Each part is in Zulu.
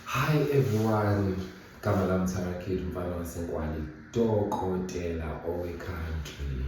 Hi everyone, gama lami Thara Kid mfana waseNkwali, dokotela owe-country.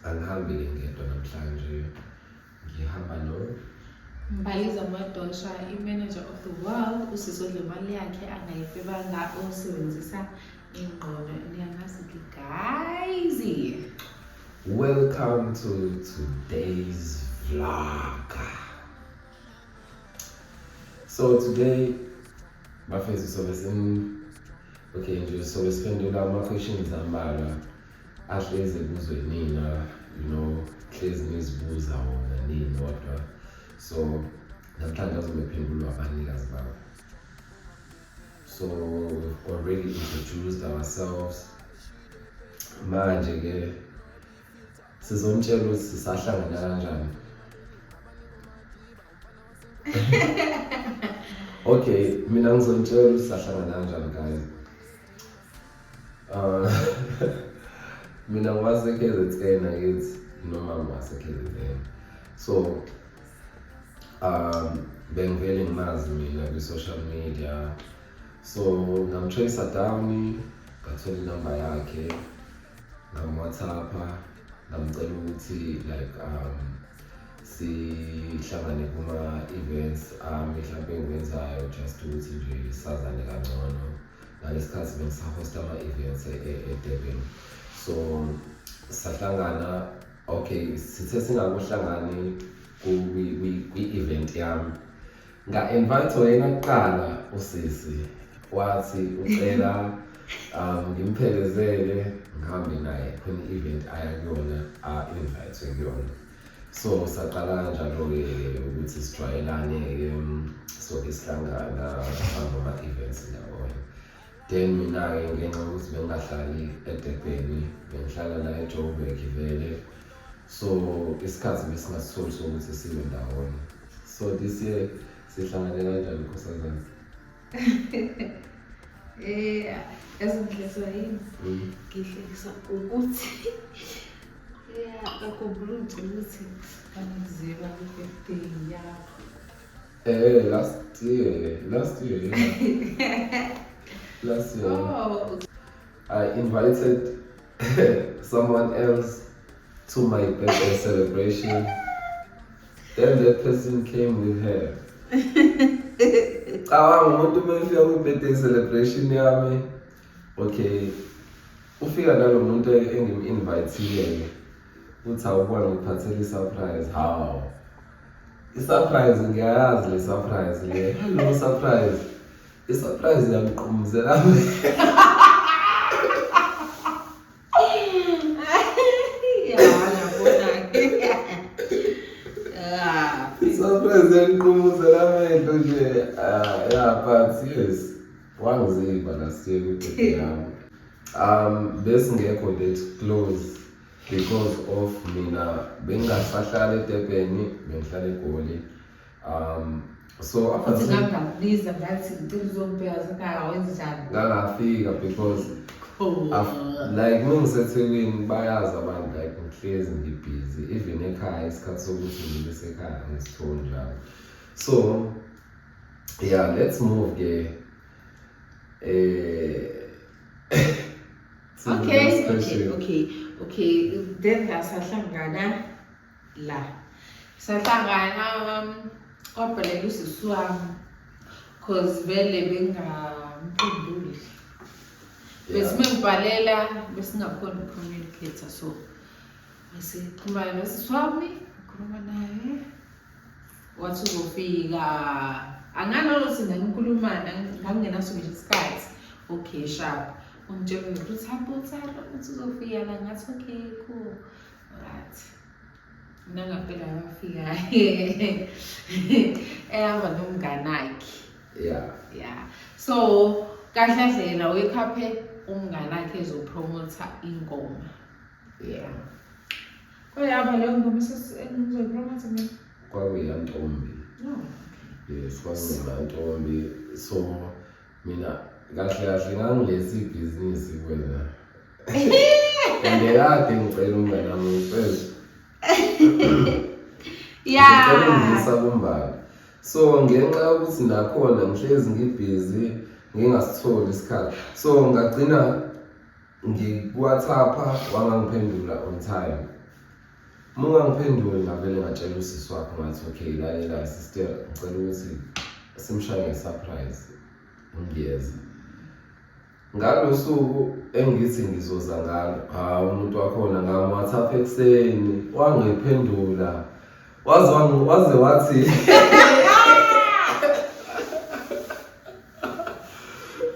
Angihambile ngedwa namhlanje, ngihamba no Mbaliza Mwadosha, i-manager of the world, usizodle imali yakhe angayifebanga osebenzisa ingqondo niyamazi-ke guys welcome to today's vlog so today bafethu sobe sim okay nje sobe siphendula ama-questions ambalwa ahlezi kuzwe nina you know hlezi nizibuza wona nini kodwa so namhlanje azobephendulwa abanikazi babo so we've already introduced ourselves manje ke sizomtshela ukuthi sisahlangana kanjani okay mina ngizomtshela ukuthi sisahlangana kanjani guys uh, mina ngwasekhe zethena kithi nomama wasekhe zethena so um bengivele ngimazi mina kwi-social media so ngamtracer down ngathola inamba yakhe ngamwhatsappa ngamcela ukuthi like um sihlangane kuma-events ami mhlawumpe engiwenzayo just ukuthi nje sazane kangcono ngalesi khathi bengisahosta ama-events e-durban e, e so sahlangana okay sithe singakuhlangani kwi-event yami nga-invitwa yena kuqala usisi wathi ucela um ngimphelezele ngihambe naye khona i-event aya kuyona a-invitwe kuyona so saqala kanjalo-ke ukuthi sijwayelane-ke soke sihlangana sihamba ama-events ndawonye Then mina-ke ngenxa yokuthi bengingahlali edebheni bengihlala la ejoburg vele so isikhathi besingasitholi sokuthi sibe ndawonye so this year sihlangane kanjani nkosazana Eh, yazi ngihlezwa yini? Mm. Ngihlekisa ukuthi yeah, akhumbula ukuthi kanizeba ku-birthday yakho. Eh, last year. Last year. Yeah. last year. Oh. I invited someone else to my birthday celebration. Then that person came with her. cabanga umuntu uma efika kwi-birthday celebration yami okay ufika nalo muntu engim-invayithile-ke uthi awuba ngiphathele i-surprise hawu i-surprise ngiyayazi le surprise le hello surprise i-surprise yangiqumuzela i-surprise yangiqumuzela amehlo nje ah, ya but yes Wangiziba last year kwibhedi yami. Um besingekho that close because of mina bengingasahlala eDurban bengihlala eGoli. Um so Futhi aphathe nami ngakubiza ngathi ngicela uzongibheka zakhaya wenzani. ngangafika because Oh. Af- like mengisethekwini bayazi abantu like ngihlezi ngibhizi even ekhaya isikhathi sokuthi ngibe sekhaya ngisithole njalo so Yeah, let's move ke. Eh Okay, okay, okay. Okay, then sahlangana la. Sahlangana um kodwa leli usisi wami cause vele bengamphenduli. Besime ngibhalela besingakhona ukucommunicate so. Ngisixhumana nosisi wami, ngikhuluma naye. wathi uzofika anganalothi nanikhulumana ngangingenaso ngisho isikhathi okay sharp ungitshela umuntu uthi hamba uthara ukuthi uzofika la ngathi okay cool right mina ngampela ngafika ehamba nomnganakhe yeah yeah so kahle kahle yena uyekhaphe umnganakhe ezopromotha ingoma yeah Kwayaba leyo ngoma esengizoyipromotha mina. Kwakuyantombi. No. Yes, kwakungantombi. So mina kahle kahle ngangilesi ibhizinisi kwena. Ngiyakade ngicela umngane wami ngicela. Yeah. Ngicela ungisa kumbala. So ngenxa yokuthi nakhona ngihlezi ngibhizi ngingasitholi isikhathi. So ngagcina ngikuwhatsappa wangangiphendula on time uma ungangiphenduli ngavele ngatshela usisi wakho ngathi okay lalela sister ngicela ukuthi simshaye ngesurprise ngiyeza ngalo suku engithi ngizoza ngalo hawu umuntu wakhona ngamwhatsapp ekuseni wangiphendula Waze wangu- waze wathi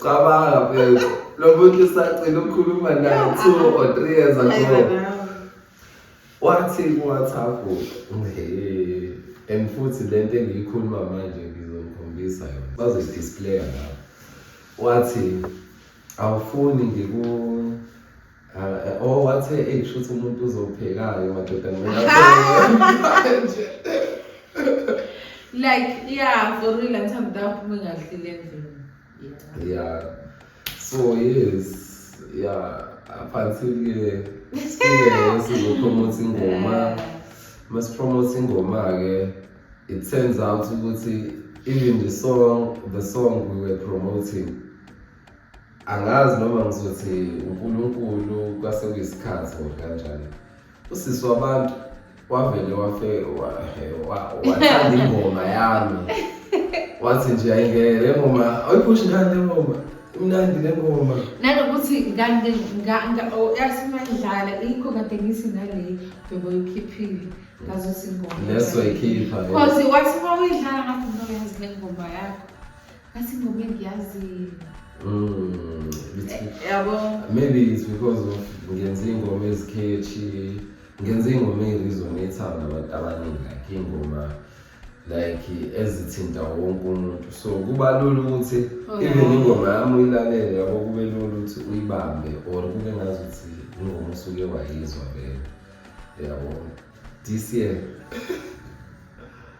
cabanga mfethu lo muntu usagcina ukukhuluma naye two or three years ago wathi kuwhatsapp "Hey, and futhi le nto engiyikhuluma manje ngizokhombisa yona bazoyidisplaya lapho wathi awufuni ngiku Ah, oh wathe eyi kushuthi umuntu uzophekayo madoda manje like yeah for real ngithanda ukuthi aphume ngadlile endlini Yeah. yeah so yes yeah up until ke sileyo sizopromote ingoma masipromote ingoma ke it turns out ukuthi even the song the song we were promoting angazi noma ngizothi uNkulunkulu kwase kuyisikhathi or kanjani usisi wabantu wavele wafe wathanda ingoma yami wathi nje ayingeke le ngoma awuyiphushi ngani le ngoma imnandi le ngoma nanokuthi yasimandlala ikho kade ngisi nale bhebo ikhiphile ngazothi ingoma leso ikhipha because wathi uma uyidlala ngathi noyazi le ngoma yakho Kasi ngobe ngiyazi. Mm. Eh, yabo. Maybe it's because of ngenze ingoma ezikhethi. Ngenze ingoma eyirizona ethanda abantu abaningi like ingoma like ezithinta wonke umuntu so kuba lula ukuthi oh, even ingoma yami uyilalele yabo kube lula ukuthi uyibambe or kube ngazi ukuthi ingoma usuke wayizwa vele yabo this year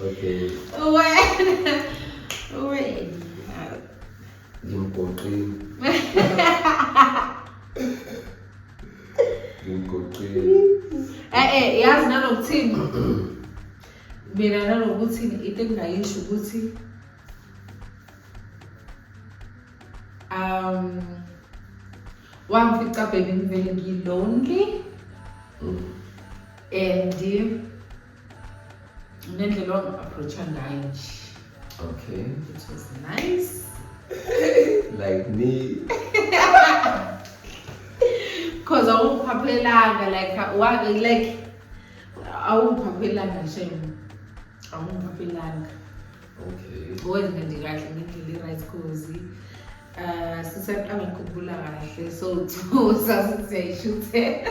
Okay. Wena. Wena. Ngimgoqile. Ngimgoqile. Eh eh yazi nanokuthini. Mina nanokuthi into engingayisho ukuthi um wangifica bhebe ngivele ngilonely mm. and nendlela wanga-approacha ngayo nje okay it was nice like me cause awungiphaphelanga like wa- like awungiphaphelanga shem awungiphaphelanga okay owenza nje kahle ngendlela i-right cause um sisat angikhumbula kahle so two sasisiyayishuthela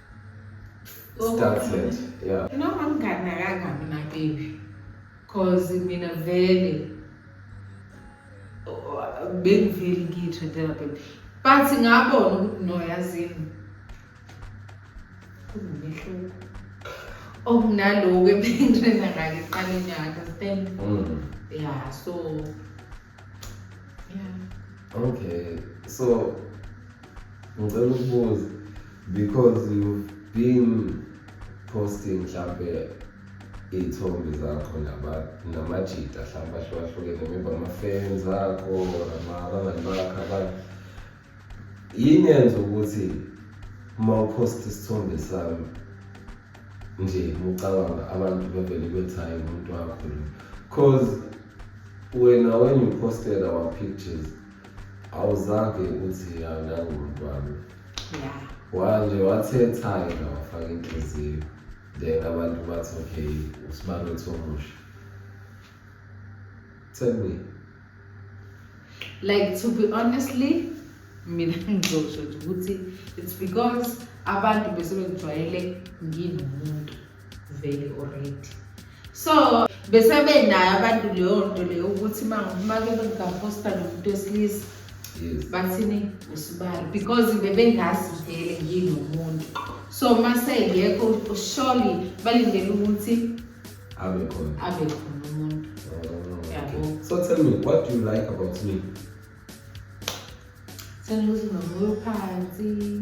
started yeah noma nginganakanga mina baby cause mina vele bengiveli ngitho dela baby but ngabona ukuthi no yazini kunomehluko okunaloku ebengirena ngake iqale nyaka understand mm. yeah so yeah okay so ngicela ukubuza because you've been posting mhlampe iy'thombe zakho namajita hlampe ahlukahlukene maybe ama-fans akho or abangani bakho abanye yini yenza ukuthi uma uphosta isithombe sami nje mucabanga abantu bevele bethi hayi umuntu wakho lo cause wena when you posted our pictures awuzange uthi anangumuntu wami ya waze wathetha-ke la wafaka inhliziyo then abantu bathi okay usibani wethu omusha tell me like to be honestly mina ngizosho nje ukuthi it's because abantu besebengijwayele nginomuntu vele already so besebenayo abantu leyo nto leyo ukuthi make bengaposta nomuntu wesilisa bathini usibali because bebengazi vele yini umuntu so mase ngekho surely balindele ukuthi abe khona abe khona umuntu oh, yabo so tell me what do you like about me sengithi nomoya phansi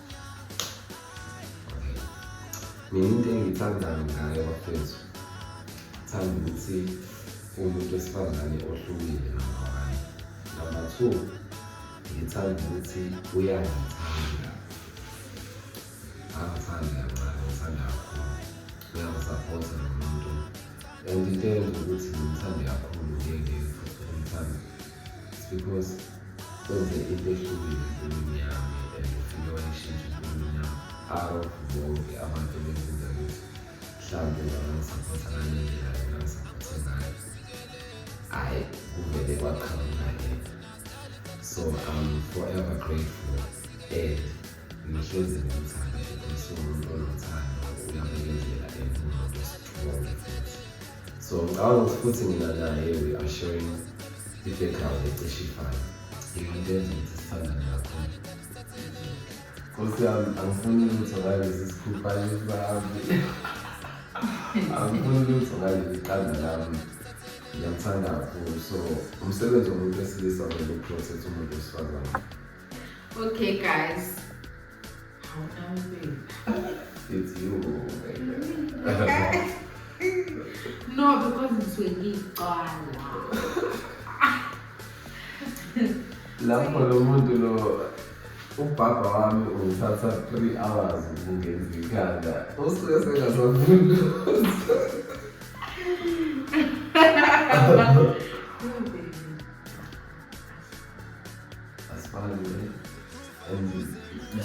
Mina into engiyithandayo ngaye bafethu thanda ukuthi umuntu wesifazane ohlukile nabanye number two ngithanda ukuthi uyangithanda angithanda kancane ngithanda kakhulu uyangisaphotha nomuntu and into eyenza ukuthi ngimthande kakhulu ngeke futhi umthande because kwenze into ehlukile empilweni yami and ufike wayishintsha empilweni yami out of bonke abantu ebenzenza ukuthi mhlawumbe bangangisaphotha ngale ndlela bengangisaphothe ngayo hhayi kuvele kwaqhamuka lento so i'm forever grateful and ngihlezi ngimthanda because umuntu onothando uyabekezela and unomuntu osithole futhi so ngicabanga ukuthi futhi mina naye we are sharing i-background ecishe ifana into enza ukuthi sithandane kakhulu nkosi yami angifuni lutho ngalesi sikhuphane sami angifuni lutho ngaleli qanda lami ngiyamthanda kakhulu so umsebenzi womuntu wesilisa vele uprocess umuntu wesifazane okay guys It's you. no, because it's when you lapho lo muntu lo ubhabha wami ungithatha three hours ukungenza ikhanda usuke sengasafuni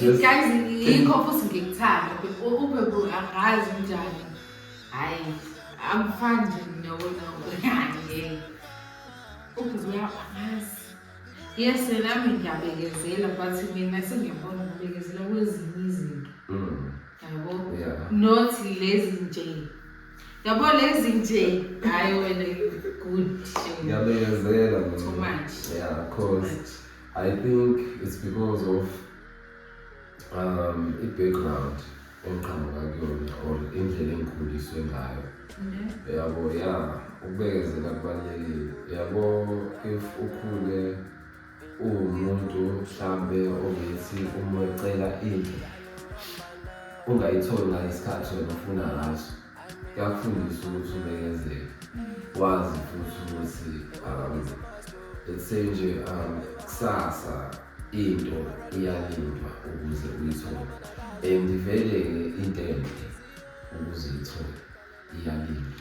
Guys, yikho futhi ngikuthanda ube bro angazi unjani hayi angifani nje nokona ngeke ubhuzi uyabangazi yes nami ngiyabekezela but mina sengiyabona ngibekezela kwezinye izinto yabo not lezi nje Yabo lezi nje hayi wena good. Ngiyabekezela mina. Too much. Yeah, of course. I think it's because of um i-background engiqhamuka kuyona or indlela engikhuliswe ngayo. Mhm. Yabo ya ukubekezela kubalulekile. Yabo if ukhule uwumuntu mhlawumbe ongethi uma ucela into ungayitholi ngesikhathi wena ufuna ngaso kuyakufundisa ukuthi ubekezele wazi futhi ukuthi um let's say nje um kusasa into iyalindwa ukuze uyithole and vele-ke into enhle ukuze uyithole iyalindwa